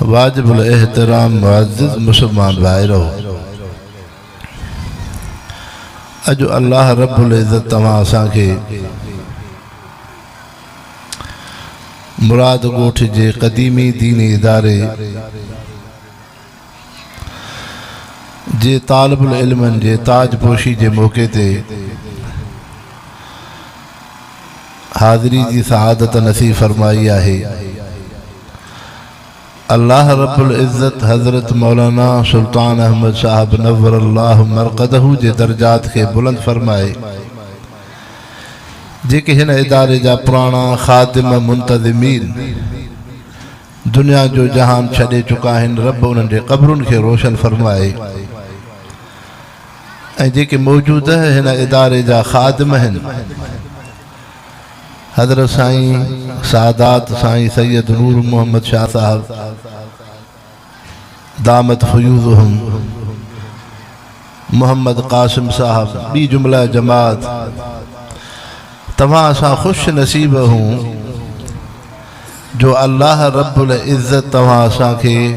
واجب الاحترام معزز مسلمان ڀائرو! اڄ الله رب العزت توهان اسان کي مراد ڳوٺ جي قديمي ديني اداري جي طالب العلمن جي تاج پوشي جي موقعي تي حاضري جي سعادت نصيب فرمائي آهي الله رب العزت حضرت مولانا سلطان احمد صاحب نور الله مرقده جي درجات کي بلند فرمائي جيڪي هن اداري جا پراڻا خادم منتظمين دنيا جو جهان ڇڏي چڪا آهن رب انهن جي قبرن کي روشن فرمائي ۽ جيڪي موجوده هن اداري جا خادم آهن حضرت سائين سادات سائين سيد نور محمد شاهه صاحب دامت فيوضهم محمد قاسم صاحب، ٻي جمله جماعت، توهان اسان خوش نصيب اهون جو الله رب العزت توهان اسان کي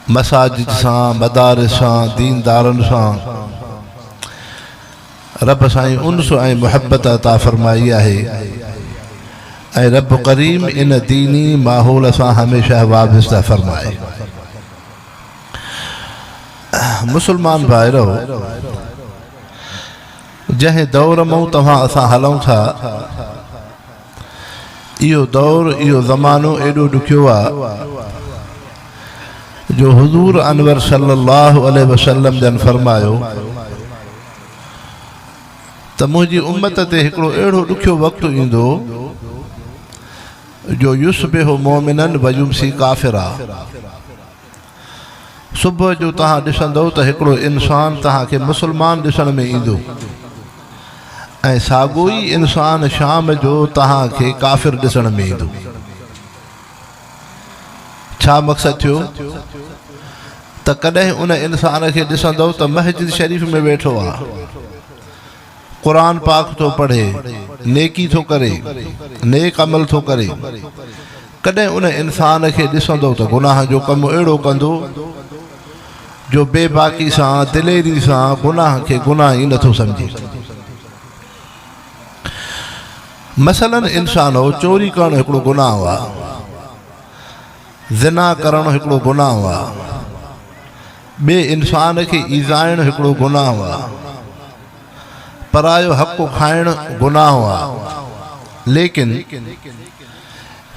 مساجد سان، مدارس سان، دين دارن سان رب سائين انس ۽ محبت عطا فرمائي آهي ۽ رب ڪريم ان ديني ماحول سان هميشه وابسته فرمائي. مسلمان ڀائرؤ! جنهن دور مئون توهان اسان هلئون ٿا، اهو دور، اهو زمانو ايڏو ڏکيو آ، جو حضور انور صلي الله عليه وسلم جن فرمايو ته منهنجي امت تي هڪڙو اهڙو ڏکيو وقت ايندو، جو يصبح مؤمنا ويمسي ڪافرا صبح جو توهان ڏسندؤ ته هڪڙو انسان توهان کي مسلمان ڏسڻ ۾ ايندو ۽ ساڳو ئي انسان شام جو توهان کي ڪافر ڏسڻ ۾ ايندو ڇا مقصد ٿيو ته ڪڏهن ان انسان کي ڏسندؤ ته مسجد شريف ۾ ويٺو آهي قرآن پاڪ ٿو پڙهي، نيڪي ٿو ڪري، نيڪ عمل ٿو ڪري، ڪڏهن ان انسان کي ڏسندو ته گناهه جو ڪم اهڙو ڪندو جو بي باڪي سان، دليري سان گناهه کي گناهه ئي نٿو سمجهي. مثلاً انسانو چوري ڪرڻ هڪڙو گناهه آ، زنا ڪرڻ هڪڙو گناهه آ، ٻئي انسان کي ايذائڻ هڪڙو گناهه آ. پرايو حق کائڻ گناهه آ. ليڪن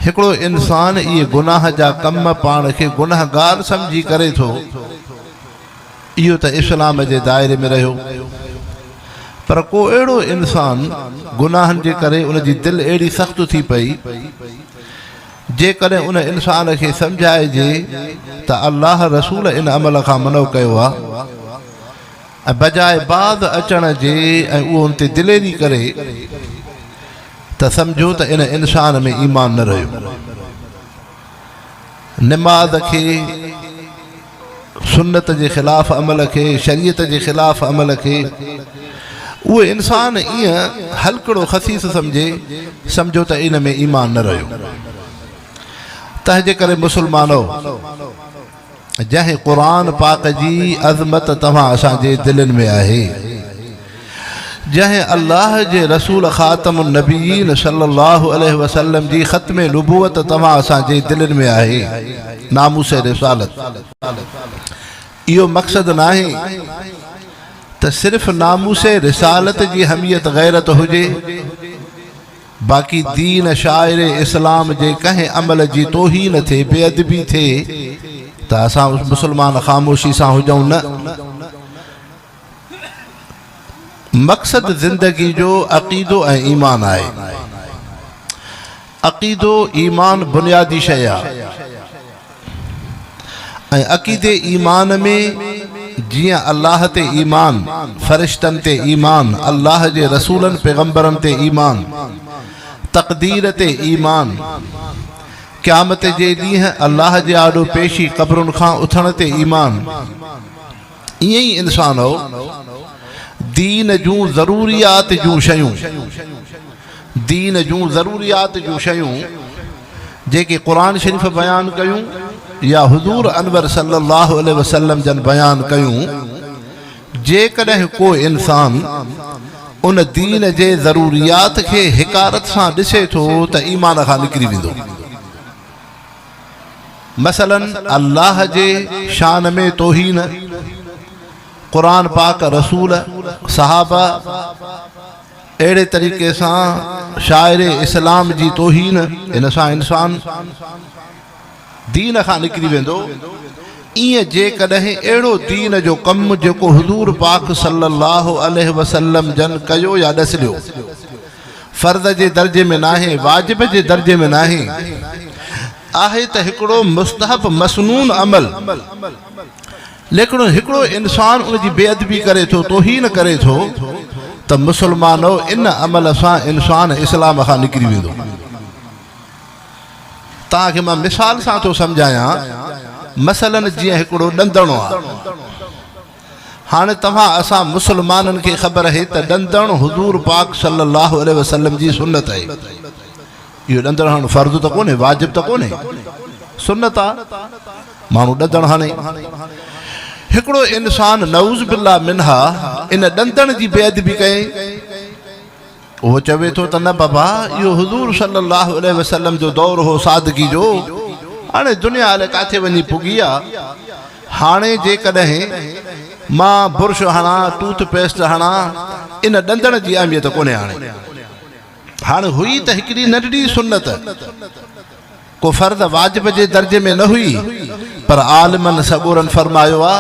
هڪڙو انسان اهي گناهه جا ڪم پاڻ کي گنهگار سمجهي ڪري ٿو، اهو ته اسلام جي دائري ۾ رهيو. پر ڪو اهڙو انسان گناهن جي ڪري ان جي دل اهڙي سخت ٿي پئي، جيڪڏهن ان انسان کي سمجهائجي ته الله رسول ان عمل کان منع ڪيو آهي ۽ بجاء باز اچڻ جي ۽ اهو ان تي دليري ڪري ته سمجهو ته ان انسان ۾ ايمان نه رهيو. نماز کي سنت جي خلاف عمل کي، شريعت جي خلاف عمل کي، اهو انسان ايئن هلڪڙو خسيس سمجهي، سمجهو ته ان ۾ ايمان نه رهيو. تنهنجي ڪري مسلمانؤ! جنهن قرآن پاڪ جي عظمت توهان اسان جي دلين ۾ آهي. جنهن الله جي رسول خاتم النبيين صلّي الله عليه وسلّم جي ختم نبوت توهان اسان جي دلين ۾ آهي، ناموس رسالت. اهو مقصد ناهي ته صرف ناموس رسالت جي حميت غيرت هجي، باقي دين شاعر اسلام جي ڪنهن عمل جي توهين ٿئي، بي ادبي ٿئي ته اسان مسلمان خاموشي سان هجون نه. مقصد زندگي جو عقيدو ۽ ايمان آهي. عقيدو ايمان بنيادي شيء آهي ۽ عقيدي ايمان ۾ جيئن الله تي ايمان، فرشتن تي ايمان، الله جي رسولن پيغمبرن تي ايمان، تقدير تي ايمان، قيامت جي ڏينهن الله جي آڏو پيشي قبرن کان اٿڻ تي ايمان، ائين ئي انسان هو. دين جون ضروريات جون شيون، دين جون ضروريات جون شيون جيڪي قرآن شريف بيان ڪيون يا حضور انور صلي الله عليه وسلم جن بيان ڪيون، جيڪڏهن ڪو انسان ان دين جي ضروريات کي حقارت سان ڏسي ٿو ته ايمان کان نڪري ويندو. مثلاً الله جي شان ۾ توهين، قرآن پاڪ، رسول، صحابه، اهڙي طريقي سان شاعر اسلام جي توهين، ان سان انسان دين کان نڪري ويندو، ايئن جيڪڏهن اهڙو دين جو ڪم جيڪو حضور پاڪ صلّي اللّٰه عليه وسلّم جن ڪيو يا ڏسليو، فرض جي درجي ۾ ناهي، واجب جي درجي ۾ ناهي، آهي ته هڪڙو مستحب مسنون عمل، ليڪن هڪڙو انسان ان جي بي ادبي ڪري ٿو، توهين ڪري ٿو ته مسلمانؤ ان عمل سان انسان اسلام کان نڪري ويندو. توهان کي مان مثال سان ٿو سمجهايان، مثلاً جيئن هڪڙو ڏندڻو آهي. هاڻي توهان اسان مسلمانن کي خبر آهي ته ڏندڻ حضور پاڪ صلّي اللّٰه عليه وسلّم جي سنّت آهي. اهو ڏندڻ هڻڻ فرض ته ڪونهي، واجب ته ڪونهي، سنّت آ. ماڻهو ڏندڻ هڻي. هڪڙو انسان نعوذ باللّٰه منها ان ڏندڻ جي بي ادبي ڪئي. هو چوي ٿو ته نه بابا اهو حضور صلي الله عليه وسلم جو دور هو سادگي جو، هاڻي دنيا الائي ڪاٿي وڃي پڳي آ، هاڻي جيڪڏهن مان برش هڻان، ٽوٿ پيسٽ هڻان، ان ڏندڻ جي اهميت ڪونهي هاڻي. هاڻي هئي ته هڪڙي ننڍڙي سنت. ڪو فرض واجب جي درجي ۾ نه هئي، پر عالمن سڳورن فرمايو آ،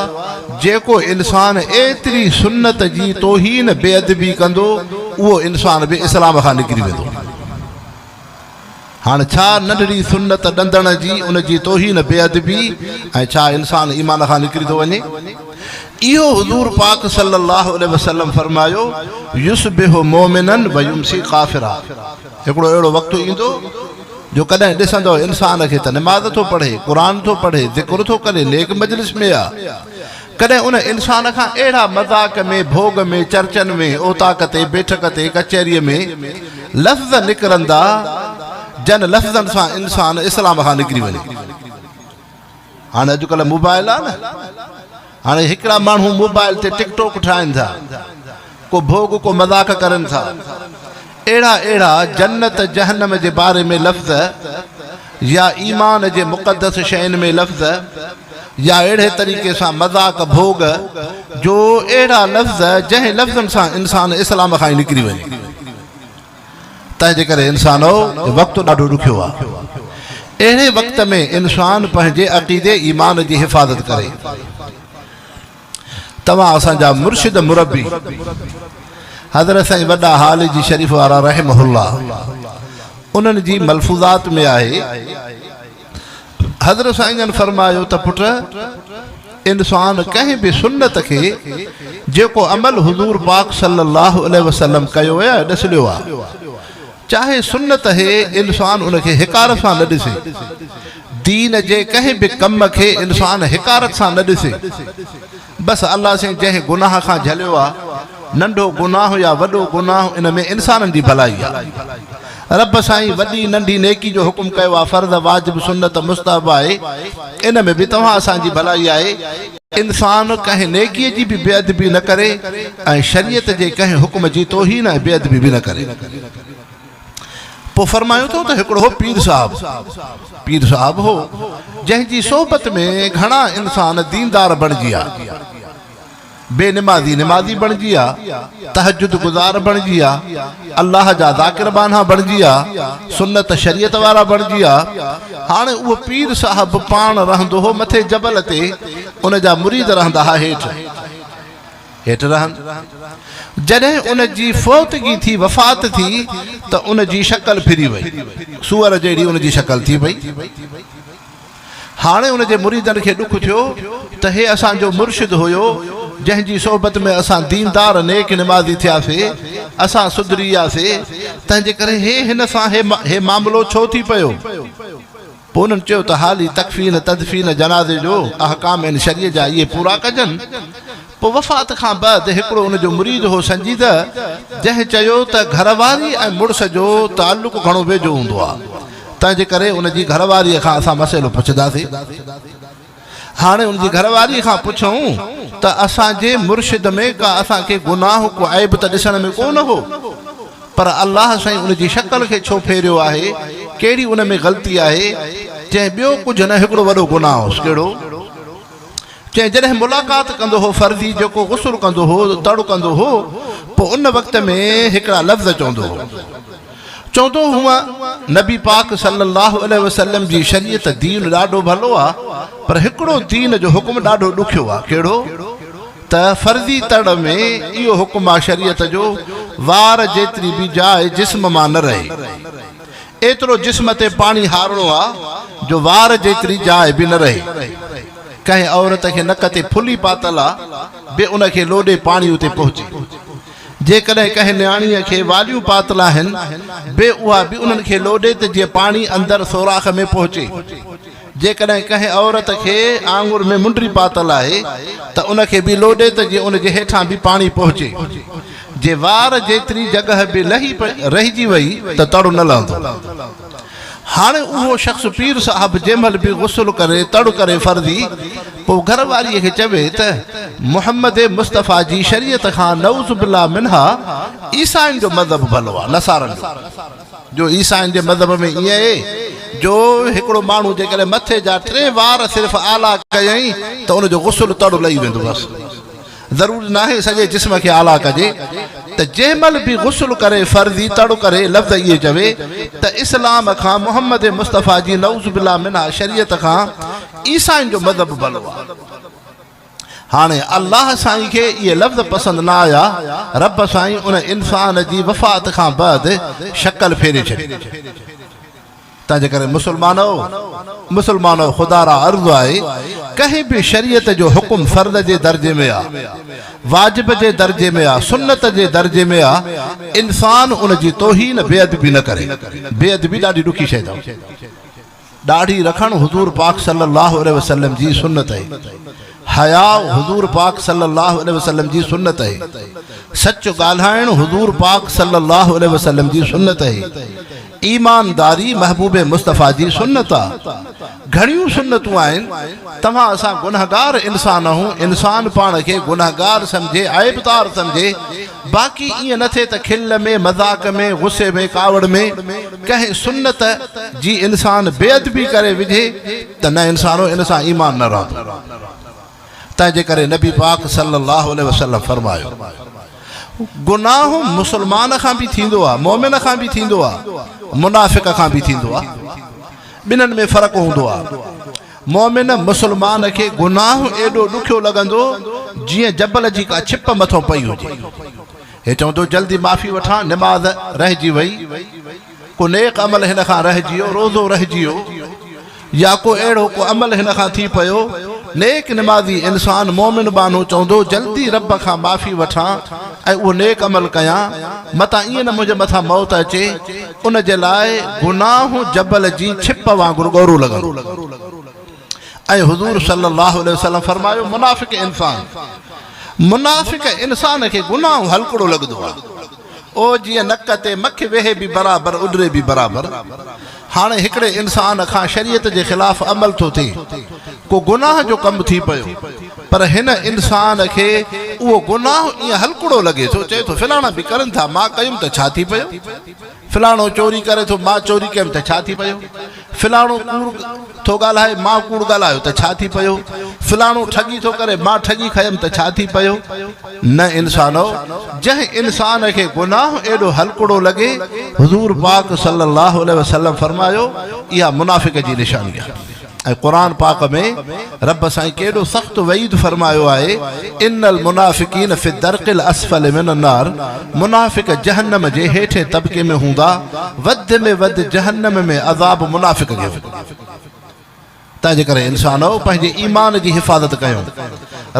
جيڪو انسان ايتري سنت جي توهين، بي ادبي، ڪندو، اهو انسان به اسلام کان نڪري ويندو. هاڻ ڇا ننڍڙي سنت ڏندڻ جي، ان جي توهين، بي ادبي ۽ ڇا انسان ايمان کان نڪري ٿو وڃي؟ اهو حضور پاڪ صلّي اللّٰه عليه وسلّم فرمايو، يصبح مؤمنا ويمسي ڪافرا، هڪڙو اهڙو وقت ايندو، جو ڪڏهن ڏسندؤ انسان کي ته نماز ٿو پڙهي، قرآن ٿو پڙهي، ذڪر ٿو ڪري، نيڪ مجلس ۾ آ. ڪڏهن ان انسان کان اهڙا مذاق ۾، ڀوڳ ۾، چرچن ۾، اوطاق تي، بيٺڪ تي، ڪچهريء ۾، لفظ نڪرندا، جن لفظن سان انسان اسلام کان نڪري وڃي. هاڻي اڄڪلهه موبائل آهي نه هاڻي هڪڙا ماڻهو موبائل تي ٽڪ ٽوڪ ٺاهن ٿا ڪو ڀوڳ ڪو مذاق ڪرن ٿا اهڙا اهڙا جنت جهنم جي باري ۾ لفظ يا ايمان جي مقدس شين ۾ لفظ يا اهڙي طريقي سان مذاق ڀوڳ جو اهڙا لفظ جنهن لفظن سان انسان اسلام کان نڪري وڃي تنهنجي ڪري انسانؤ هي وقت ڏاڍو ڏکيو آ. اهڙي وقت ۾ انسان پنهنجي عقيدي ايمان جي حفاظت ڪري. توهان اسان جا مرشد مربي حضرت سائين وڏا هالي جي شريف وارا رحمه الله انهن جي ملفوظات ۾ آهي. حضرت سائين جن فرمايو ته پٽ! انسان ڪنهن به سنت کي جيڪو عمل حضور پاڪ صلي الله عليه وسلم ڪيو يا ڏسليو آ، چاهي سنت هي انسان ان کي حقارت سان نه ڏسي. دين جي ڪنهن به ڪم کي انسان حقارت سان نه ڏسي. بس الله سين جنهن گناهه کان جهليو آ ننڍو گناهه يا وڏو گناهه ان ۾ انسانن جي ڀلائي آ رب سائين وڏي ننڍي نيڪي جو حڪم ڪيو آ فرض واجب سنت مستحب آهي ان ۾ به توهان اسان جي ڀلائي آهي انسان ڪنهن نيڪي جي به بي ادبي نه ڪري ۽ شريعت جي ڪنهن حڪم جي توهين ۽ بي ادبي به نه ڪري. پوء فرمايو اٿو ته هڪڙو هو پير صاحب، پير صاحب هو، جنهن جي صحبت ۾ گهڻا انسان ديندار بڻجي آ، بي نمازي نمازي بڻجي آ، تهجد گذار بڻجي آ، الله جا ذاڪر ٻانها بڻجي آ، سنت شريعت وارا بڻجي آ. هاڻي اهو پير صاحب پاڻ رهندو هو مٿي جبل تي، ان جا مريد رهندا ها هيٺ. هيٺ رهن. جڏهن ان جي فوتگي ٿي، وفات ٿي، ته ان جي شڪل ڦري وئي. سوئر جهڙي ان جي شڪل ٿي پئي. هاڻي ان جي مريدن کي ڏک ٿيو ته هي اسان جو مرشد هيو، جنهن جي صحبت ۾ اسان ديندار نيڪ نمازي ٿياسي، اسان سڌري وياسي، تنهنجي ڪري هي هن سان هي معاملو ڇو ٿي پيو؟ پوء انهن چيو ته حالي تڪفين، تدفين، جنازي جو احڪام ان شريء جا اهي پورا ڪجن. پوء وفات کان بعد هڪڙو ان جو مريد هو سنجيده، جنهن چيو ته گهر واري ۽ مڙس جو تعلق گهڻو ويجهو هوندو آهي، تنهنجي ڪري ان جي گهر واريء کان اسان مسئلو پڇنداسين. هاڻي ان جي گهر واري کان پڇئون ته اسان جي مرشد ۾ ڪا اسان کي گناهه ڪو عيب ته ڏسڻ ۾ ڪو نه هو پر الله سائين ان جي شڪل کي ڇو ڦيريو آهي ڪهڙي ان ۾ غلطي آهي چئين ٻيو ڪجهه نه هڪڙو وڏو گناهه هوس ڪهڙو چئين جڏهن ملاقات ڪندو هو فرضي جيڪو غسل ڪندو هو تڙ ڪندو هو پوء ان وقت ۾ هڪڙا لفظ چوندو هو چوندو هئون نبي پاڪ صلّي اللّٰه عليه وسلّم جي شريعت، دين، ڏاڍو ڀلو آ، پر هڪڙو دين جو حڪم ڏاڍو ڏکيو آ، ڪهڙو؟ ته فرضي تڙ ۾ اهو حڪم آ شريعت جو وار جيتري به جاء جسم مان نه رهي، ايترو جسم تي پاڻي هارڻو آ جو وار جيتري جاء به نه رهي، ڪنهن عورت کي نڪ تي ڦلي پاتل آ به ان کي لوڏي پاڻي اتي پهچي. جيڪڏهن ڪنهن نياڻيء کي واليون پاتل آهن، بي اها به انهن کي لوڏي ته جيئن پاڻي اندر سوراخ ۾ پهچي. جيڪڏهن ڪنهن عورت کي آڱر ۾ منڊري پاتل آهي ته ان کي به لوڏي ته جيئن ان جي هيٺان به پاڻي پهچي. جي وار جيتري جڳهه به لهي رهجي وئي ته تڙ نه لهندو. هاڻي اهو شخص پير صاحب جنهن مهل به غسل ڪري تڙ ڪري فرضي پوء گهر واريء کي چوي ته محمد مصطفيٰ جي شريعت کان نعوذ بالله منها عيسائين جو مذهب ڀلو آهي نصارن جو جو عيسائين جي مذهب ۾ ائين اهي جو هڪڙو ماڻهو جيڪڏهن مٿي جا ٽي وار صرف آلا ڪيائين ته ان جو غسل تڙ لهي ويندو بس ضروري ناهي سڄي جسم کي آلا ڪجي ته جنهن مهل به غسل ڪري فرضي تڙ ڪري لفظ اهي چوي ته اسلام کان محمد مصطفيٰ جي نعوذ بالله منها شريعت کان عيسائين جو مذهب ڀلو آ هاڻي الله سائين کي اهي لفظ پسند نه آيا رب سائين ان انسان جي وفات کان بعد شڪل ڦيري ڇڏي تنهنجي ڪري مسلمانؤ! مسلمانؤ! خدا را عرض آهي، ڪنهن به شريعت جو حڪم فرض جي درجي ۾ آ، واجب جي درجي ۾ آ، سنت جي درجي ۾ آ، انسان ان جي توهين، بي ادبي نه ڪري. بي ادبي ڏاڍي ڏکي شيء اٿم. ڏاڙهي رکڻ حضور پاڪ صلّي اللّٰه عليه وسلّم جي سنّت اهي. حياء حضور پاڪ صلي الله عليه وسلم جي سنت اهي سچ ڳالهائڻ حضور پاڪ صلي الله عليه وسلم جي سنت اهي ايمانداري محبوب مصطفيٰ جي سنت آ گهڻيون سنتون آهن توهان اسان گنهگار انسان آهون انسان پاڻ کي گنهگار سمجهي عيبدار سمجهي باقي ائين نه ٿئي ته کل ۾، مذاق ۾، غصي ۾ ڪاوڙ ۾ ڪنهن سنت جي انسان بي ادبي ڪري وجهي ته نه انسانو ان سان ايمان نه رهندو تنهن جي ڪري نبي پاڪ صلي الله عليه وسلم فرمايو گناهه مسلمان کان به ٿيندو آهي مؤمن کان به ٿيندو آهي منافق کان به ٿيندو آهي ٻنهن ۾ فرق هوندو آهي مؤمن مسلمان کي گناهه ايڏو ڏکيو لڳندو جيئن جبل جي ڪا ڇپ مٿو پئي هجي. هي چوندو جلدي معافي وٺان، نماز رهجي وئي، ڪو نيڪ عمل هن کان رهجي ويو، روزو رهجي ويو يا ڪو اهڙو ڪو عمل هن کان ٿي پيو. نيڪ نمازي انسان مؤمن ٻانهو چوندو جلدي رب کان معافي وٺان ۽ اهو نيڪ عمل ڪيان، متان ائين نه منهنجي مٿان موت اچي. ان جي لاء گناهون جبل جي ڇپ وانگر ڳورو لڳن. ۽ حضور صلي الله عليه وسلم فرمايو، منافق انسان، منافق انسان کي گناهون هلڪڙو لڳندو آهي. او جيئن نڪ تي مک ويهي به برابر اڏري به برابر. هاڻي هڪڙي انسان کان شريعت جي خلاف عمل ٿو ٿئي، ڪو گناهه جو ڪم ٿي پيو. پر هن انسان کي اهو گناهه ائين هلڪڙو لڳي ٿو، چئي ٿو فلاڻا به ڪرن ٿا، مان ڪيم ته ڇا ٿي پيو؟ فلاڻو چوري ڪري ٿو، مان چوري ڪيم ته ڇا ٿي پيو؟ فلاڻو ڪوڙ ٿو ڳالهائي، مان ڪوڙ ڳالهايو ته ڇا ٿي پيو؟ فلاڻو ٺڳي ٿو ڪري، مان ٺڳي کنيم ته ڇا ٿي پيو؟ نه انسانؤ! جنهن انسان کي گناهه ايڏو هلڪڙو لڳي، حضور پاڪ صلّي اللّٰه عليه وسلّم فرمايو، اها منافق جي نشاني آهي. ۽ قرآن پاڪ ۾ رب سائين ڪيڏو سخت وعيد فرمايو آهي ان المنافقين في الدرق الاسفل من النار منافق جهنم جي هيٺين طبقي ۾ هوندا وڌ ۾ وڌ جهنم ۾ عذاب منافق کي هوندو تنهنجي ڪري انسانو پنهنجي ايمان جي حفاظت ڪيو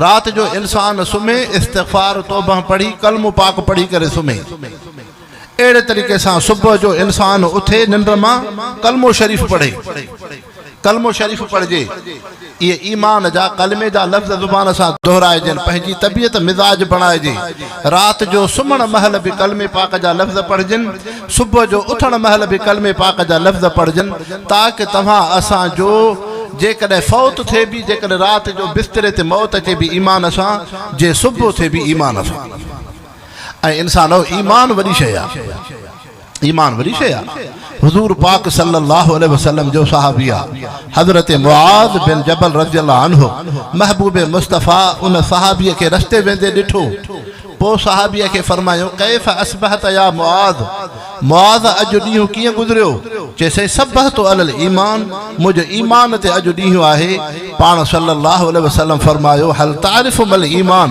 رات جو انسان سمهي استغفار توبه پڙهي ڪلمو پاڪ پڙهي ڪري سمهي اهڙي طريقي سان صبح جو انسان اٿي ننڊ مان ڪلمو شريف پڙهي. ڪلمو شريف پڙهجي. اهي ايمان جا، ڪلمي جا لفظ زبان سان دهرائجن، پنهنجي طبيعت مزاج بڻائجي. رات جو سمهڻ مهل به ڪلمي پاڪ جا لفظ پڙهجن. صبح جو اٿڻ مهل به ڪلمي پاڪ جا لفظ پڙهجن تاڪ توهان اسان جو جيڪڏهن فوت ٿئي به جيڪڏهن رات جو بستري تي موت اچي به ايمان سان جي صبح ٿئي به ايمان سان. اي انسانؤ! ايمان وڏي شيء آ. ايمان وڏي شيء آ. حضور پاڪ صلّي اللّٰه عليه وسلّم جو صحابي آ حضرت معاذ بن جبل رضي الله عنه محبوب مصطفٰي ان صحابي کي رستي ويندي ڏٺو پوء صحابي کي فرمايو ڪيف اصبحت يا معاذ معاذ اڄ ڏينهن ڪيئن گذريو؟ چيسين صبحت علي الايمان منهنجو ايمان تي اڄ ڏينهن آهي پاڻ صلّي اللّٰه عليه وسلّم فرمايو هل تعرف ما الايمان؟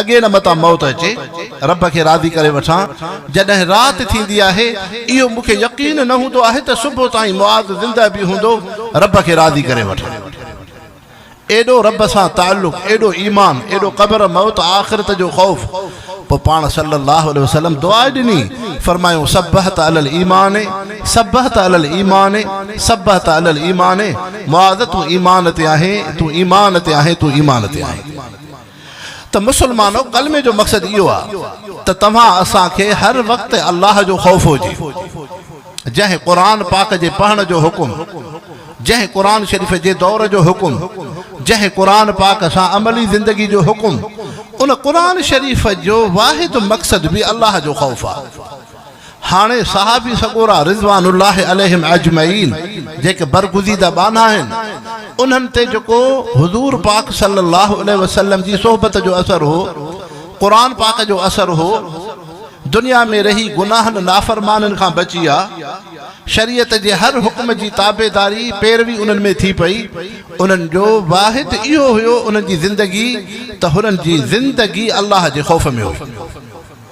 اڳي نه متان موت اچي رب کي راضي ڪري وٺان جڏهن رات ٿيندي آهي اهو مون کي يقين نه هوندو آهي ته صبح تائين معاذ زنده به هوندو رب کي راضي ڪري وٺان ايڏو رب سان تعلق ايڏو ايمان ايڏو قبر موت آخرت جو خوف پوء پاڻ صلي الله عليه وسلم دعا ڏني فرمايو صبحت علي الايمان صبحت علي الايمان صبحت علي الايمان معاذ تون ايمان تي آهين تون ايمان تي آهين تون ايمان تي آهين ته مسلمانو! ڪلمي جو مقصد اهو آهي ته توهان اسان کي هر وقت الله جو خوف هجي. جنهن قرآن پاڪ جي پڙهڻ جو حڪم، جنهن قرآن شريف جي دور جو حڪم، جنهن قرآن پاڪ سان عملي زندگي جو حڪم، ان قرآن شريف جو واحد مقصد به الله جو خوف آهي. هاڻي صحابي سڳورا رضوان الله عليهم اجمعين جيڪي برگزيده ٻانها آهن، انهن تي جيڪو حضور پاڪ صلّي الله عليه وسلّم جي صحبت جو اثر هو، قرآن پاڪ جو اثر هو، دنيا ۾ رهي گناهن نافرمانين کان بچيا، شريعت جي هر حڪم جي تابعداري، پيروي انهن ۾ ٿي پئي، انهن جو واحد اهو هيو انهن جي زندگي ته هنن جي زندگي الله جي خوف ۾ هئي.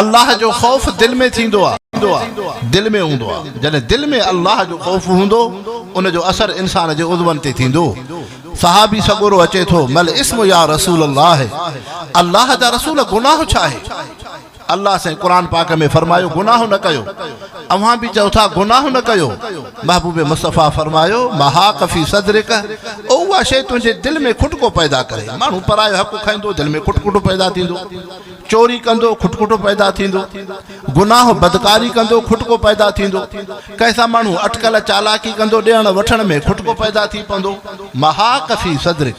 الله جو خوف دل ۾ ٿيندو آ. دل ۾ هوندو آ. جڏهن دل ۾ الله جو خوف هوندو ان جو اثر انسان جي عضون تي ٿيندو. صحابي سڳورو اچي ٿو، ما الاسم يا رسول الله، الله جا رسول گناهه ڇا آهي؟ الله سائين قرآن پاڪ ۾ فرمايو گناهه نه ڪيو. اوهان به چئو ٿا گناهه نه ڪيو. محبوب مصطفيٰ فرمايو، ما حاق في صدرڪ، او اها شيء تنهنجي دل ۾ کٽڪو پيدا ڪري. ماڻهو پرايو حق کائيندو دل ۾ کٽ کٽو پيدا ٿيندو. چوري ڪندو، کٽکٽو پيدا ٿيندو. گناهه بدڪاري ڪندو، کٽڪو پيدا ٿيندو. ڪنهن سان ماڻهو اٽڪل چالاڪي ڪندو، ڏيڻ وٺڻ ۾ کٽڪو پيدا ٿي پوندو. محاق في صدرڪ.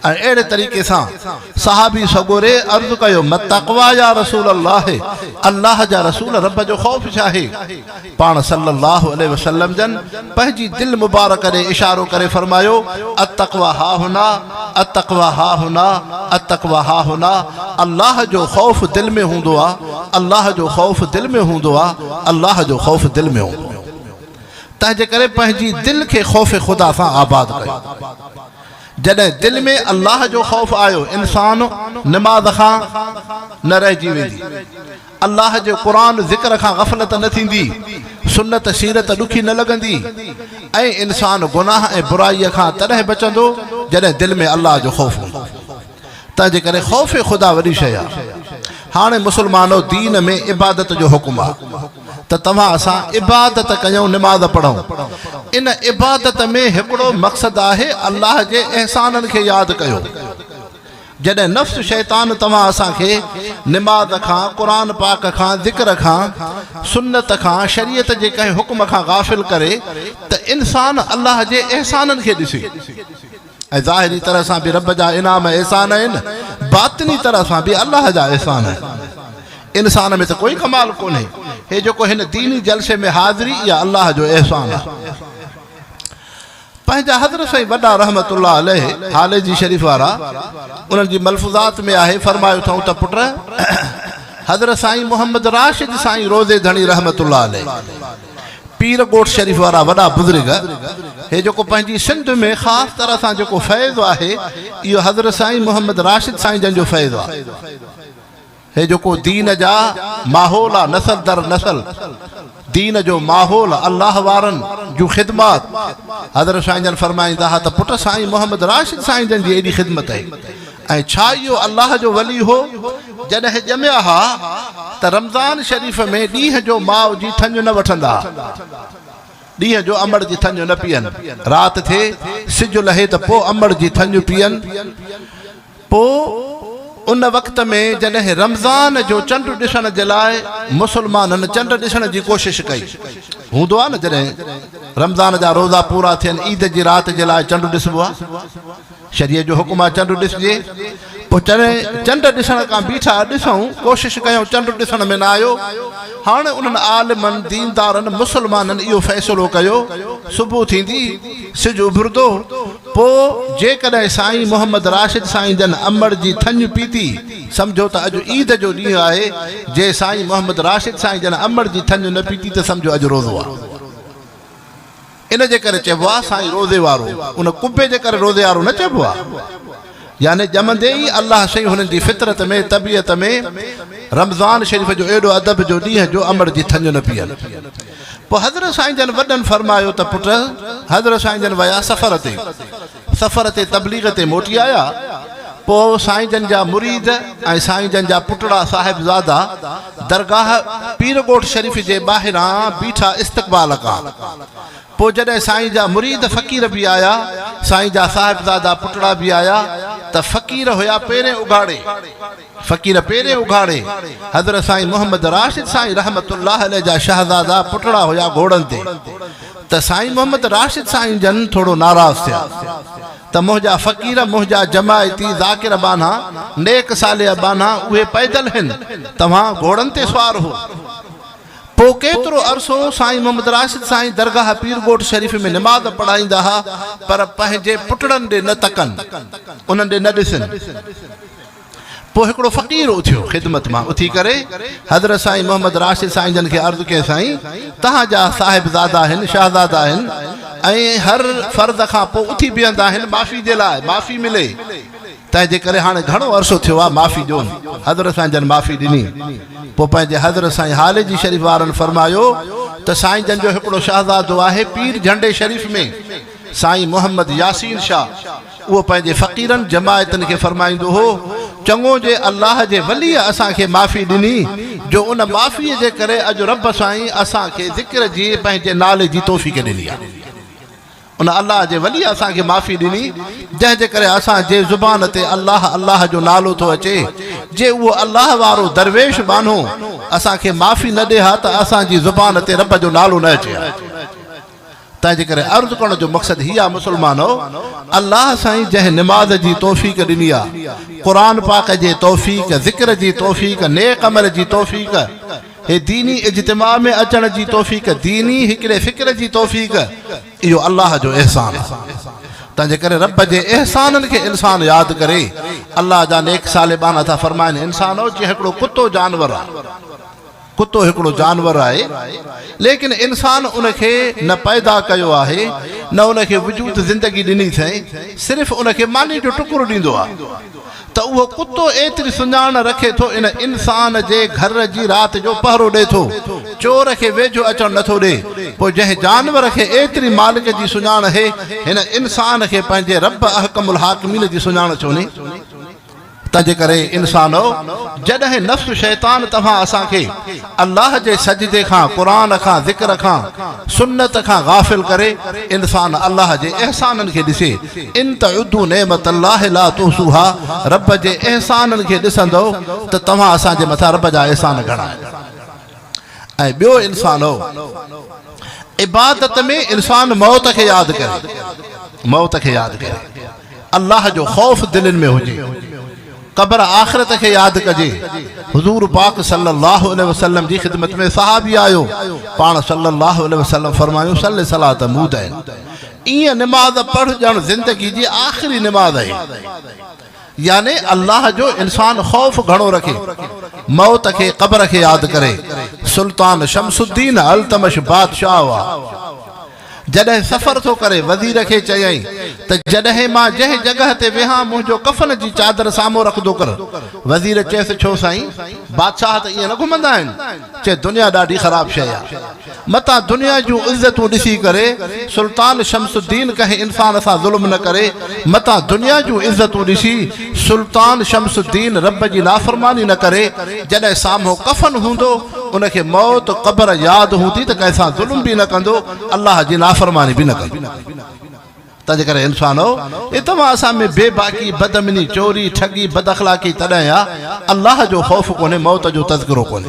۽ اهڙي طريقي سان صحابي سڳوري عرض ڪيو، متقويٰ يا رسول الله، الله جا رسول رب جو خوف ڇا آهي؟ پاڻ صلّي اللّٰه عليه وسلّم جن پنهنجي دل مبارڪ ڏي اشارو ڪري فرمايو، التقويٰ هاهنا، التقويٰ هاهنا، التقويٰ هاهنا، الله جو خوف دل ۾ هوندو آ، الله جو خوف دل ۾ هوندو آ، الله جو خوف دل ۾ هوندو آ. تنهنجيڪري پنهنجي دل کي خوف خدا سان آباد ڪيو. جڏهن دل ۾ الله جو خوف آيو، انسان نماز کان نه رهجي ويندي. الله جي قرآن ذڪر کان غفلت نه ٿيندي، سنت سيرت ڏکي نه لڳندي ۽ انسان گناهه ۽ برائيء کان تڏهن بچندو جڏهن دل ۾ الله جو خوف هوندو. تنهنجي ڪري خوف خدا وڏي شيء آ. هاڻي مسلمانو دين ۾ عبادت جو حڪم آ ته توهان اسان عبادت ڪيون نماز پڙهون. ان عبادت ۾ هڪڙو مقصد آهي الله جي احسانن کي ياد ڪيو. جڏهن نفس شيطان توهان اسان کي نماز کان، قرآن پاڪ کان، ذڪر کان، سنت کان، شريعت جي ڪنهن حڪم کان غافل ڪري ته انسان الله جي احسانن کي ڏسي ۽ ظاهري طرح سان به رب جا انعام ۽ احسان آهن، باطني طرح سان به الله جا احسان آهن. انسان ۾ ته ڪوئي ڪمال ڪونهي. هي جيڪو هن ديني جلسي ۾ حاضري اها الله جو احسان آهي. پنهنجا حضرت سائين وڏا رحمة الله عليه هاليجي شريف وارا انهن جي ملفوظات ۾ آهي فرمايو اٿئون ته پٽ حضرت سائين محمد راشد سائين روضي ڌڻي رحمة الله عليه پير ڳوٺ شريف وارا وڏا بزرگ هي جيڪو پنهنجي سنڌ ۾ خاص طرح سان جيڪو فيض آهي اهو حضرت سائين محمد راشد سائين جن جو فيض آهي. هي جيڪو دين جا ماحول آ نسل در نسل دين جو ماحول الله وارن جون خدمات حضرت سائين جن فرمائيندا ها ته پٽ سائين محمد راشد سائين جن جي ايڏي خدمت هي ۽ ڇا اهو الله جو ولي هو جڏهن ڄميا ها ته رمضان شريف ۾ ڏينهن جو ماء جي ٿڃ نه وٺندا ڏينهن جو امڙ جي ٿڃ نه پيئن رات ٿئي سج لهي ته پو امڙ جي ٿڃ پيئن پوء ان وقت ۾ جڏهن رمضان جو چنڊ ڏسڻ جي لاء مسلمانن چنڊ ڏسڻ جي ڪوشش ڪئي. هوندو آهي نه جڏهن رمضان جا روزا پورا ٿين عيد جي رات جي لاء چنڊ ڏسبو آهي. شريعت جو حڪم آهي چنڊ ڏسجي. پوء جڏهن چنڊ ڏسڻ ڪا بيٺا، ڏسئون، ڪوشش ڪيائون چنڊ ڏسڻ ۾ نه آيو. هاڻ انهن عالمن، ديندارن، مسلمانن اهو فيصلو ڪيو صبح ٿيندي، سج اڀرندو. پوء جيڪڏهن سائين محمد راشد سائين جن امڙ جي ٿڃ پيتي، سمجهو ته اڄ عيد جو ڏينهن آهي، جي سائين محمد راشد سائين جن امڙ جي ٿڃ نه پيتي ته سمجهو اڄ روزو آ. ان جي ڪري چئبو آ سائين روزي وارو، ان قبي جي ڪري روزي وارو نه چئبو آ. يعني ڄمندي ئي الله شيء هنن جي فطرت ۾، طبيعت ۾، رمضان شريف جو ايڏو ادب جو ڏينهن جو امڙ جي ٿڃ نه پيئن. پوء حضرت سائين جن وڏن فرمايو ته پٽ! حضرت سائين جن ويا سفر تي، سفر تي تبليغ تي موٽي آيا، پوء سائين جن جا مريد ۽ سائين جن جا پٽڙا صاحبزادا درگاهه پير ڳوٺ شريف جي ٻاهران بيٺا استقبال ڪان، پوء جڏهن سائين جا مريد فقير به آيا، سائين جا صاحبزادا پٽڙا به آيا ته فقير هيا پيرين اگهاڙي. فقير پيرين اگهاڙي حضرت سائين محمد راشد سائين رحمة الله عليه جا شهزادا پٽڙا هيا گهوڙن تي ته سائين محمد راشد سائين جن ٿورو ناراض ٿيا ته منهنجا فقير منهنجا جماعتي ذاڪر ٻانها نيڪ صالح ٻانها اهي پيدل هن توهان گهوڙن تي سوار هو پو ڪيترو عرصو سائين محمد راشد سائين درگاهه پير ڳوٺ شريف ۾ نماز پڙهائيندا ها پر پنهنجي پٽڙن ڏي نه تڪن انهن ڏي نه ڏسن پوء هڪڙو فقير اٿيو خدمت مان اٿي ڪري حضرت سائين محمد راشد سائين جن کي عرض ڪئي سائين توهان جا صاحب زادا آهن شهزادا آهن ۽ هر فرض کان پوء اٿي بيهندا آهن معافي جي لاء معافي ملي تنهن جي ڪري هاڻي گهڻو عرصو ٿيو آهي معافي ڏيون حضرت سائين جن معافي ڏني پوء پنهنجي حضرت سائين حالي جي شريف وارن فرمايو ته سائين جن جو هڪڙو شهزادو آهي پير جهنڊي شريف ۾ سائين محمد ياسين شاهه اهو پنهنجي فقيرن، جماعتن، کي فرمائيندو هو، چڱو جي الله جي وليء اسان کي معافي ڏني، جو ان معافيء جي ڪري اڄ رب سائين اسان کي ذڪر جي پنهنجي نالي جي توفيق ڏني آهي. ان الله جي وليء اسان کي معافي ڏني، جنهن جي ڪري اسان جي زبان تي الله الله جو نالو ٿو اچي، جي اهو الله وارو درويش ٻانهو اسان کي معافي نه ڏي ها ته اسان جي زبان تي رب جو نالو نه اچي ها. تنهنجي ڪري عرض ڪرڻ جو مقصد هي آ مسلمانؤ! الله سائين جنهن نماز جي توفيق ڏني آ، قرآن پاڪ جي توفيق، ذڪر جي توفيق، نيڪ عمل جي توفيق، هي ديني اجتماع ۾ اچڻ جي توفيق، ديني هڪڙي فڪر جي توفيق، اهو الله جو احسان آ. تنهنجي ڪري رب جي احسانن کي انسان ياد ڪري. الله جا نيڪ صالبان ٿا فرمائن، انسانؤ! جيئن هڪڙو ڪتو جانور آ. ڪتو هڪڙو جانور آهي، ليڪن انسان ان کي نه پيدا ڪيو آهي، نه ان کي وجود زندگي ڏني اٿئين، صرف ان کي ماني جو ٽڪرو ڏيندو آهي ته اهو ڪتو ايتري سڃاڻ رکي ٿو ان انسان جي گهر جي رات جو پهرو ڏي ٿو، چور کي ويجهو اچڻ نه ٿو ڏي، پوء جنهن جانور کي ايتري مالڪ جي سڃاڻ اهي، هن انسان کي پنهنجي رب احڪم الحاڪمين جي سڃاڻ ڇو ني؟ تنهنجي ڪري انسانؤ! جڏهن نفس شيطان توهان اسان کي الله جي سجدي کان، قرآن کان، ذڪر کان، سنت کان غافل ڪري، انسان الله جي احسانن کي ڏسي، ان تعدوا نعمت الله لا تحصوها، رب جي احسانن کي ڏسندؤ ته توهان اسان جي مٿان رب جا احسان گهڻا آهن. ۽ ٻيو انسان هو. عبادت ۾ انسان موت کي ياد ڪري، موت کي ياد ڪري، الله جو خوف دلين ۾ هجي، قبر آخرت کي ياد ڪجي، حضور پاڪ صلي الله عليه وسلم جي خدمت ۾ صحابي آيو، پاڻ صلي الله عليه وسلم فرمايون صلي صلاة مودعين، ايئن نماز پڙهه ڄڻ زندگي جي آخري نماز آهي. يعني الله جو انسان خوف گهڻو رکي، موت کي، قبر کي ياد ڪري. سلطان شمس الدين التمش بادشاهه هئا. جڏهن سفر ٿو ڪري، وزير کي چيائين ته جڏهن مان جنهن جڳهه تي ويهان، منهنجو ڪفن جي چادر سامهون رکندو ڪر. وزير چيس، ڇو سائين! بادشاهه ته ائين نه گهمندا آهن. چي، دنيا ڏاڍي خراب شيء آهي. متان دنيا جون عزتون ڏسي ڪري سلطان شمس الدين ڪنهن انسان سان ظلم نه ڪري، متان دنيا جون عزتون ڏسي سلطان شمس الدين رب جي نافرماني نه ڪري، جڏهن سامهون ڪفن هوندو ان کي موت، قبر، ياد هوندي ته ڪنهن سان ظلم به نه ڪندو، الله جي نافرماني به نه ڪندو. تنهنجي ڪري انسانؤ! اي توهان اسان ۾ بي باڪي، بدامني، چوري، ٺڳي، بداخلاقي تڏهن آ، الله جو خوف ڪونهي، موت جو تذڪرو ڪونهي.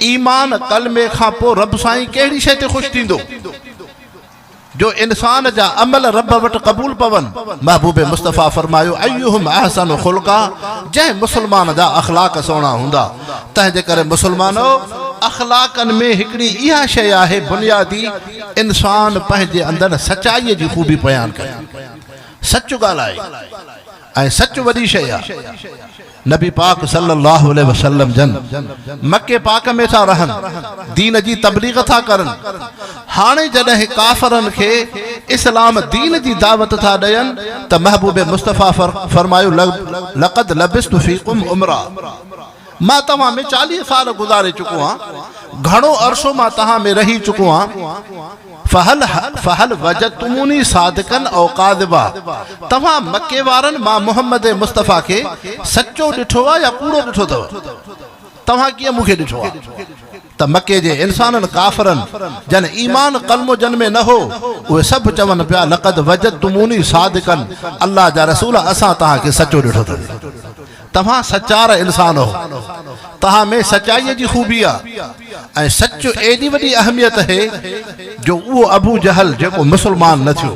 ايمان، ڪلمي، کان پوء رب سائين ڪهڙي شيء تي خوش ٿيندو جو انسان جا عمل رب وٽ قبول پون؟ محبوب مصطفيٰ فرمايو، ايهم احسن خلقا، جنهن مسلمان جا اخلاق سهڻا هوندا، تنهنجي ڪري مسلمانؤ! اخلاقن ۾ هڪڙي اها شيء آهي بنيادي، انسان پنهنجي اندر سچائيء جي خوبي بيان ڪري، سچ ڳالهائي. ۽ سچ وڏي شيء آ. نبي پاڪ صلّي اللّٰه عليه وسلّم جن مڪي پاڪ ۾ ٿا رهن، دين جي تبليغ ٿا ڪرن، هاڻي جڏهن ڪافرن کي اسلام دين جي دعوت ٿا ڏين ته محبوب مصطفٰي فرمايو لقد لبثت فيڪم عمرا. مان توهان ۾ چاليهه سال گذاري چڪو آهيان، گهڻو عرصو مان توهان ۾ رهي چڪو آهيان، فهل فهل وجدتموني صادقا او ڪاذبا، توهان مڪي وارن مان محمد مصطفيٰ کي سچو ڏٺو آهي يا ڪوڙو ڏٺو اٿو؟ توهان ڪيئن مون کي ڏٺو آهي؟ ته مڪي جي انسانن ڪافرن جن ايمان قلمو جن ۾ نه هو اهي سڀ چون پيا لقد وجدتموني صادقا الله جا رسول اسان توهان کي سچو ڏٺو اٿو توهان سچار انسان هو توهان ۾ سچائي جي خوبي آ ۽ سچ ايڏي وڏي اهميت هي جو اهو ابو جهل جيڪو مسلمان نه ٿيو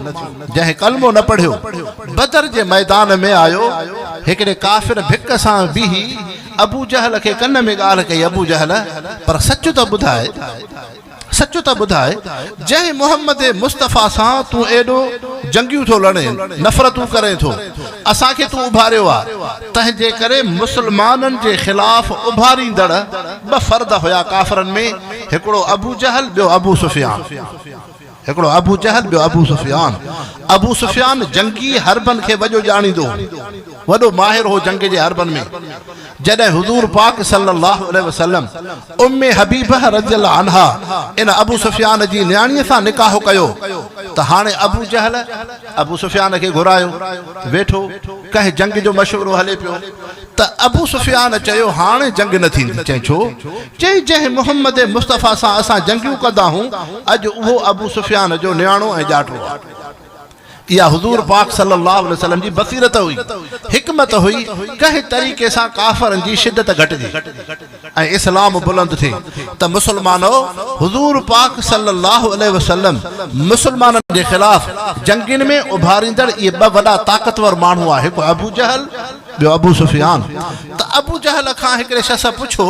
جنهن قلمو نه پڙهيو بدر جي ميدان ۾ آيو هڪڙي ڪافر ڀڪ سان بيهي ابو جهل کي ڪن ۾ ڳالهه ڪئي، ابو جهل! پر سچ ته ٻڌاء، سچ ته ٻڌاء، جنهن محمد مصطفيٰ سان تون ايڏو جنگيون ٿو لڙين، نفرتون ڪرين ٿو، اسان کي تون اڀاريو آ، تنهنجي ڪري مسلمانن جي خلاف اڀاريندڙ ٻه فرد هيا ڪافرن ۾، هڪڙو ابو جهل، ٻيو ابو سفيان. هڪڙو ابو جهل ٻيو ابو سفيان. ابو سفيان جنگي حربن کي وڄو ڄاڻيندو هو. وڏو ماهر هو جنگ جي حربن ۾. جڏهن حضور پاڪ صلّي اللّٰه عليه وسلّم ام حبيبه رضي الله عنها ان ابو سفيان جي نياڻيء سان نڪاح ڪيو ته هاڻي ابو جهل ابو سفيان کي گهرايو ته ويٺو ڪنهن جنگ جو مشورو هلي پيو ته ابو سفيان چيو، هاڻي جنگ نه ٿيندي. چيائين، ڇو؟ چيائين، جنهن محمد مصطفيٰ سان اسان جنگيون ڪندا هون، اڄ اهو ابو سفيان جو نياڻو ۽ ڄاٽو آهي. اها حضور پاڪ صلّي اللّٰه عليه وسلّم جي بصيرت هئي، حڪمت هئي، ڪنهن طريقي سان ڪافرن جي شدت گهٽجي. ۽ اسلام بلند ٿئي ته مسلمانو! حضور پاڪ صلّي اللّٰه عليه وسلّم مسلمانن جي خلاف جنگين ۾ اڀاريندڙ اهي ٻه وڏا طاقتور ماڻهو هئا، هڪ ابو جهل، ٻيو ابو سفيان. ته ابو جهل کان هڪڙي شخص پڇيو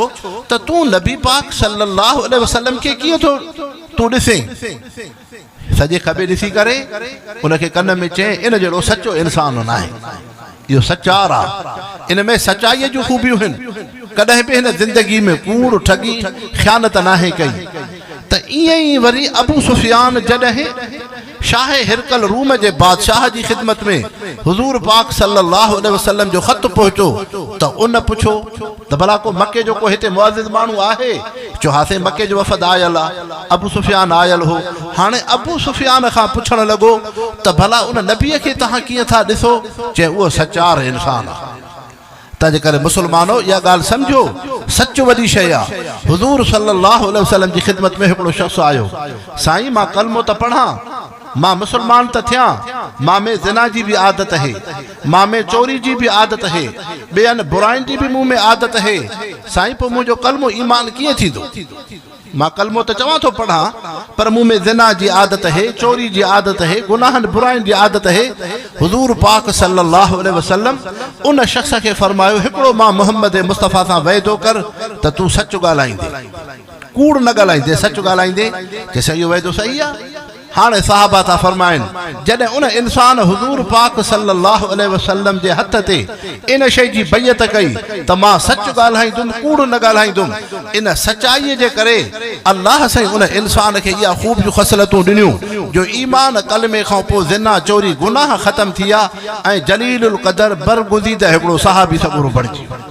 ته تون نبي پاڪ صلّي اللّٰه عليه وسلّم کي ڪيئن ٿو تون ڏسين؟ سڄي کٻي ڏسي ڪري ان کي ڪن ۾ چين، ان جهڙو سچو انسان ناهي. اهو سچار آ. ان ۾ سچائيء جون خوبيون هن. ڪڏهن به هن زندگيء ۾ ڪوڙ، ٺڳي، خيانت ناهي ڪئي. ته ائين ئي وري ابو سفيان جڏهن شاهه هرقل روم جي بادشاهه جي خدمت ۾ حضور پاڪ صلّي اللّٰه عليه وسلّم جو خط پهچو ته ان پڇو، ته ڀلا ڪو مڪي جو ڪو هتي معزز ماڻهو آهي؟ چيو، ها سائين مڪي جو وفد آيل آ، ابو سفيان آيل هو. هاڻي ابو سفيان کان پڇڻ لڳو ته ڀلا ان نبيء کي توهان ڪيئن ٿا ڏسو؟ چيائين، اهو سچار انسان آ. تنهنجي ڪري مسلمانو اها ڳالهه سمجهو، سچ وڏي شيء آ. حضور صلّي اللّٰه عليه وسلّم جي خدمت ۾ هڪڙو شخص آيو، سائين مان ڪلمو ته پڙهان. مان مسلمان ته ٿيان، مان ۾ زنا جي به عادت هي، مان ۾ چوري جي به عادت هي، ٻين براين جي به مون ۾ عادت هي، سائين پوء منهنجو ڪلمو ايمان ڪيئن ٿيندو؟ مان ڪلمو ته چوان ٿو پڙهان، پر مون ۾ زنا جي عادت هي، چوري جي عادت هي، گناهن براين جي عادت هي. حضور پاڪ صلّي اللّٰه عليه وسلّم ان شخص کي فرمايو، هڪڙو مان محمّد مصطفٰي سان وعدو ڪر ته تون سچ ڳالهائيندين. ڪوڙ نه ڳالهائيندي، سچ ڳالهائيندي، چيس اهو وعدو صحيح آهي. هاڻي صحابه ٿا فرمائن، جڏهن ان انسان حضور پاڪ صلّي اللّٰه عليه وسلّم جي هٿ تي ان شيء جي بيعت ڪئي ته مان سچ ڳالهائيندم، ڪوڙ نه ڳالهائيندم. ان سچائيء جي ڪري الله سائين ان انسان کي اها خوبيون خصلتون ڏنيون، جو ايمان، ڪلمي کان پوء زنا، چوري، گناهه ختم ٿيا ۽ جليل القدر، برگزيده هڪڙو صحابي سڳورو بڻجي ويو.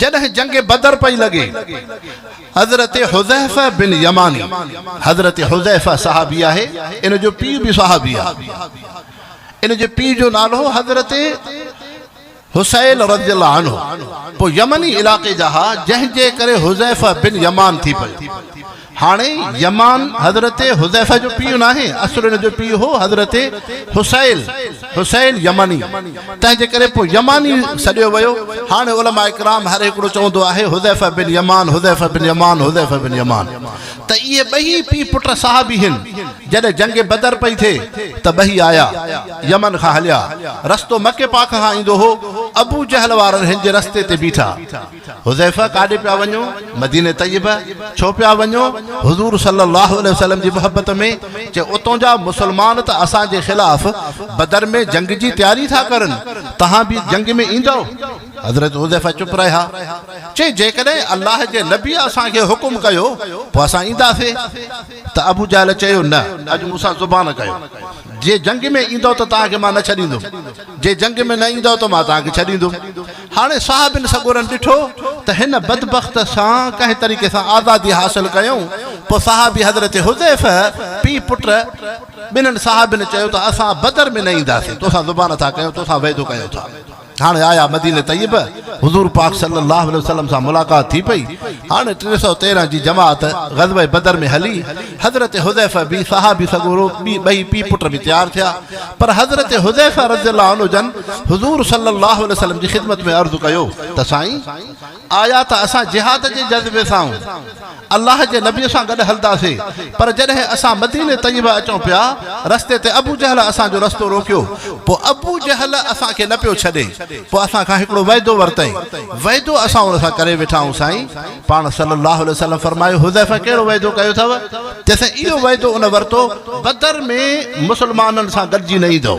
جڏهن جنگ بدر پئي لڳي، حضرت حذيفه بن يماني، حضرت حذيفه صحابي آهي، ان جو پيء به صحابي آهي، ان جي پيء جو نالو هو حضرت حسيل رضي الله عنه، پوء يمني علائقي جا ها، جنهن جي ڪري حذيفه بن يمان ٿي پيو. هاڻي يمان حضرت حذيفه جو پيء ناهي، اصل ان جو پيء هو حضرت حسيل، حسيل يمني، تنهنجي ڪري پوء يماني سڏيو ويو. هاڻي علماء ڪرام هر هڪڙو چوندو آهي حذيفه بن يمان، حذيفه بن يمان، حذيفه بن يمان، ته اهي ٻئي پيء پٽ صحابي هن. جڏهن جنگ بدر پئي ٿئي ته ٻئي آيا، يمن کان هليا، رستو مڪي پاڪ کان ايندو هو، ابو جهل وارن هن جي رستي تي بيٺا. حذيفه ڪاڏي پيا وڃو؟ مدينه طيبه، ڇو پيا وڃو؟ حضور صلّي اللّٰه عليه وسلّم جي محبت ۾، چي اتون جا مسلمان ته اسان جي خلاف بدر ۾ جنگ جي تياري ٿا ڪرن، توهان به جنگ ۾ ايندؤ؟ حضرت حذيفه چپ رهيا، چي جيڪڏهن الله جي نبي اسان کي حڪم ڪيو پوء اسان اينداسي، ته ابو جهل چيو نه، اڄ مون سان زبان ڪيو، جي جنگ ۾ ايندؤ ته توهان کي مان نه ڇڏيندم، جي جنگ ۾ نه ايندؤ ته مان توهان کي ڇڏيندم. هاڻي صاحبن سڳورن ڏٺو ته هن بدبخت سان ڪنهن طريقي سان آزادي حاصل ڪيائون. پوء صحابي حضرت حذيفه پيء پٽ ٻنهن صاحبن چيو ته اسان بدر ۾ نه اينداسين، تو سان زبان ٿا ڪيون، تو سان وعدو ڪيون ٿا. هاڻي آيا مدينه طيبه، حضور پاڪ صلّي اللّٰه عليه وسلّم سان ملاقات ٿي پئي. هاڻي ٽي سؤ تيرنهن جي جماعت غزوه بدر ۾ هلي. حضرت حذيفه به صحابي سڳورو ٻئي پي پٽ به تيار ٿيا پر حضرت حذيفه رضي الله عنه جن حضور صلي الله عليه وسلم جي خدمت ۾ عرض ڪيو ته سائين آيا ته اسان جهاد جي جذبي سان الله جي نبي سان گڏ هلداسي پر جڏهن اسان مدينه طيبه اچون پيا رستي تي ابو جهل اسان جو رستو روڪيو پو ابو جهل اسان کي نه پيو ڇڏي پو اسان کان هڪڙو وعدو ورتئين وعدو اسان ان سان ڪري ويٺا آهيون سائين پاڻ صلّي اللّٰه عليه وسلّم فرمايو، حذيفه ڪهڙو وعدو ڪيو اٿئو؟ چيسين، اهو وعدو ان ورتو، بدر ۾ مسلمانن سان گڏجي نه ايندؤ.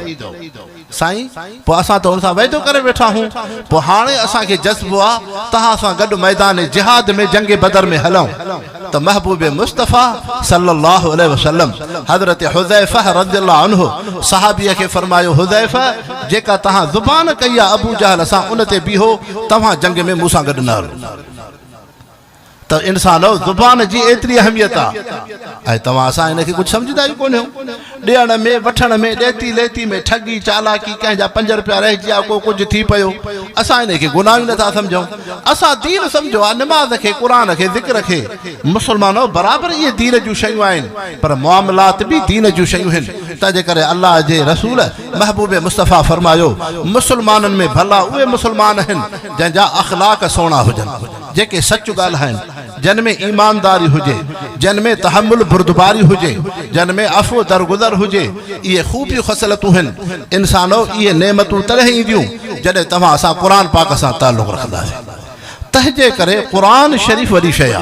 سائين! پوء اسان ته ان سان وعدو ڪري ويٺا هون، پوء هاڻي اسان کي جذبو آ، توهان سان گڏ ميدان جهاد ۾ جنگ بدر ۾ هلئون ته محبوب مصطفٰي صلّي اللّٰه عليه وسلّم حضرت حذيفه رضي الله عنه صحابي کي فرمايو، حذيفه! جيڪا توهان زبان ڪئي آ ابوجهل سان ان تي بيهو، توهان جنگ ۾ مون سان گڏ نه هلو. ته انسانؤ زبان جي ايتري اهميت آ ۽ توهان اسان ان کي ڪجهه سمجهندا ئي ڪونهيو. ڏيڻ ۾ وٺڻ ۾ ڏيتي ليتي ۾ ٺڳي چالاڪي ڪنهن جا پنج روپيا رهجي آ ڪو ڪجهه ٿي پيو اسان ان کي گناهه ئي نه ٿا سمجهون اسان دين سمجهيو آ نماز کي قرآن کي ذڪر کي مسلمانؤ برابر اهي دين جون شيون آهن پر معاملات به دين جون شيون هن تنهن جي ڪري الله جي رسول محبوب مصطفيٰ فرمايو مسلمانن ۾ ڀلا اهي مسلمان هن جنهن جا اخلاق سهڻا هجن، جيڪي سچ ڳالهائين، جن ۾ ايمانداري هجي، جن ۾ تحمل بردباري هجي، جن ۾ عفو درگذر هجي، اهي خوبيون خصلتون هن، انسانؤ اهي نعمتون تڏهن اينديون جڏهن توهان سان قرآن پاڪ سان تعلق رکنداسين تنهنجي ڪري قرآن شريف وڏي شيء آ.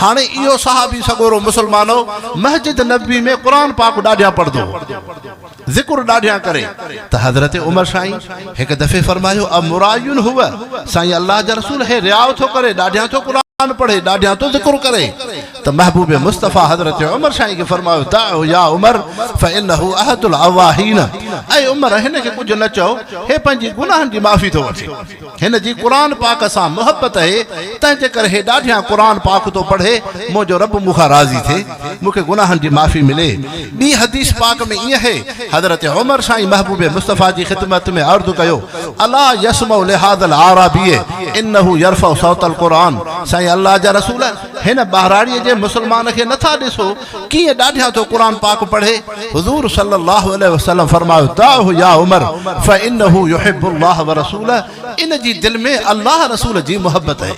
هاڻي اهو صحابي سڳورو مسلمان هو، مسجد نبوي ۾ قرآن پاڪ ڏاڍيان پڙهندو هو، ذڪر ڏاڍيان ڪري ته حضرت عمر سائين هڪ دفعي فرمايو، امراء هو، سائين الله جا رسول هي رياء ٿو ڪري، ڏاڍيان ٿو قرآن پڙهي، ڏاڍيان ٿو ذڪر ڪري ته محبوب مصطفيٰ حضرت عمر سائين کي فرمايو، دعه يا عمر فإنه احد العواهين اي عمر هن کي ڪجهه نه چئو، هي پنهنجي گناهن جي معافي ٿو وٺي. هن جي قرآن پاڪ سان محبت اهي، تنهن جي ڪري هي ڏاڍيان قرآن پاڪ ٿو پڙهي، منهنجو رب مون کان راضي ٿئي، مون کي گناهن جي معافي ملي. ٻي حديث پاڪ ۾ ائين اهي، حضرت عمر سائين محبوب مصطفيٰ جي خدمت ۾ عرض ڪيو، الا يسمع لهذا الاعرابي انه يرفع صوت القرآن، سائين الله جا رسول! هن ٻهراڙيء جي مسلمان کي نٿا ڏسو؟ ڪيئن ڏاڍيان ٿو قرآن پاڪ پڙهي، حضور صلّي اللّٰه عليه وسلّم فرمايو، دعه يا عمر فانه يحب الله ورسوله ان جي دل ۾ الله رسول جي محبت اهي.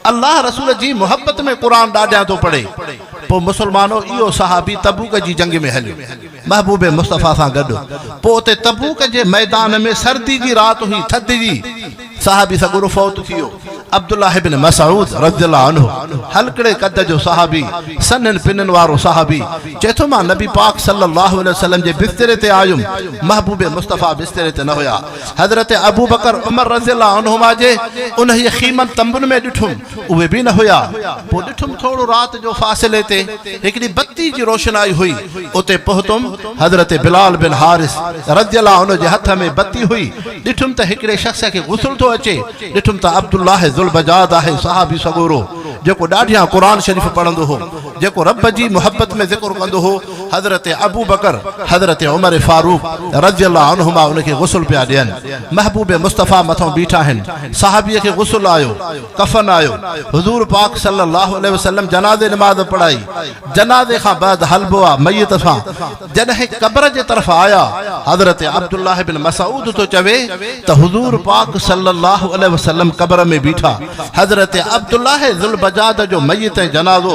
الله رسول جي محبت ۾ قرآن ڏاڍيان ٿو پڙهي. پوء مسلمانو اهو صحابي تبوڪ جي جنگ ۾ هليو محبوب مصطفٰي سان گڏ. پوء اتي تبوڪ جي ميدان ۾ سردي جي رات هئي، ٿڌ جي. صحابي سڳورو فوت ٿي ويو. عبدالله ابن مسعود رضي الله عنه هلڪڙي قد جو صحابي، سنهن پنن وارو صحابي، چئي ٿو، مان نبي پاڪ صلّي اللّٰه عليه وسلّم جي بستري تي آيم، محبوب مصطفٰي بستري تي نه هيا. حضرت ابوبڪر، عمر رضي الله عنهما جي انهيء خيمن، تنبن، ۾ ڏٺم. اهي به نه هيا. پوء ڏٺم ٿورو رات جو فاصلي تي هڪڙي بتي جي روشنائي هئي. اتي پهتم. حضرت بلال بن حارث رضي الله عنه جي هٿ ۾ بتي هئي. ڏٺم ته هڪڙي شخص کي غسل ٿو اچي. ڏٺم ته عبدالله ذوالبجاد آهي، صحابي سڳورو، جيڪو ڏاڍيان قرآن شريف پڙهندو هو، جيڪو رب جي محبت ۾ ذڪر ڪندو هو. حضرت ابوبڪر حضرت عمر فاروق رضي الله عنهما ان کي غسل پيا ڏين. محبوب مصطفيٰ مٿئون بيٺا آهن. صحابيء کي غسل آيو، ڪفن آيو. حضور پاڪ صلّي اللّٰه عليه وسلّم جنازي نماز پڙهائي. جنازي کان بعد هلبو آ ميت سان. جڏهن قبر جي طرف آيا، حضرت عبدالله بن مسعود ٿو چوي ته حضور پاڪ صلّي اللّٰه عليه وسلّم قبر ۾ بيٺا. حضرت عبدالله ذوالبجاده جو ميت ۽ جنازو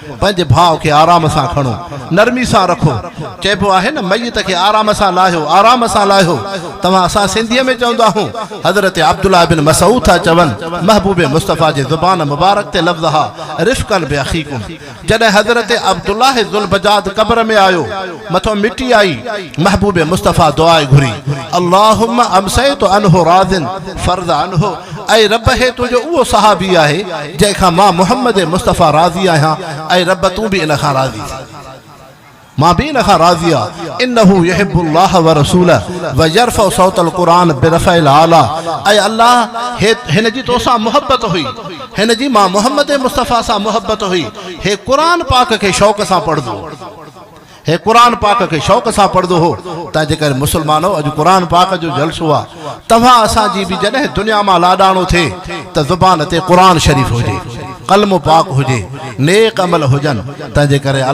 پنهنجي ڀاء کي آرام سان کڻو، نرمي سان رکو. چئبو آهي نه ميت کي آرام سان لاهيو، آرام سان لاهيو. توهان اسان سنڌيء ۾ چوندا آهون. حضرت عبدالله بن مسعود ٿا چون، محبوب مصطفيٰ جي زبان مبارڪ تي لفظ ها رفقا باخيڪم. جڏهن حضرت عبدالله ذوالبجاد قبر ۾ آيو. مٿو مٽي آئي، محبوب مصطفيٰ دعاء گهري، اللهم امسيت عنه راض فارض عنه، اي رب هي تنهنجو اهو صحابي آهي جنهن کان مان محمد مصطفيٰ راضي آهيان، اي رب تون به ان کان راضي ٿي. مان به ان کان راضي آ، انه يحب الله ورسوله ويرفع صوت القرآن برفع الاعليٰ، اي الله هي هن جي تو سان محبت هئي، هن جي مان محمد مصطفيٰ سان محبت هئي، هي قرآن پاڪ کي شوق سان پڙهندو هو. هي قرآن پاڪ کي شوق سان پڙهندو هو، تنهن جي ڪري مسلمانو اڄ قرآن پاڪ جو جلسو آ، توهان اسان جي به جڏهن دنيا مان لاڏاڻو ٿئي ته زبان تي قرآن شريف هجي، قلم پاڪ هجي، نيڪ عمل هجن، تنهن جي ڪري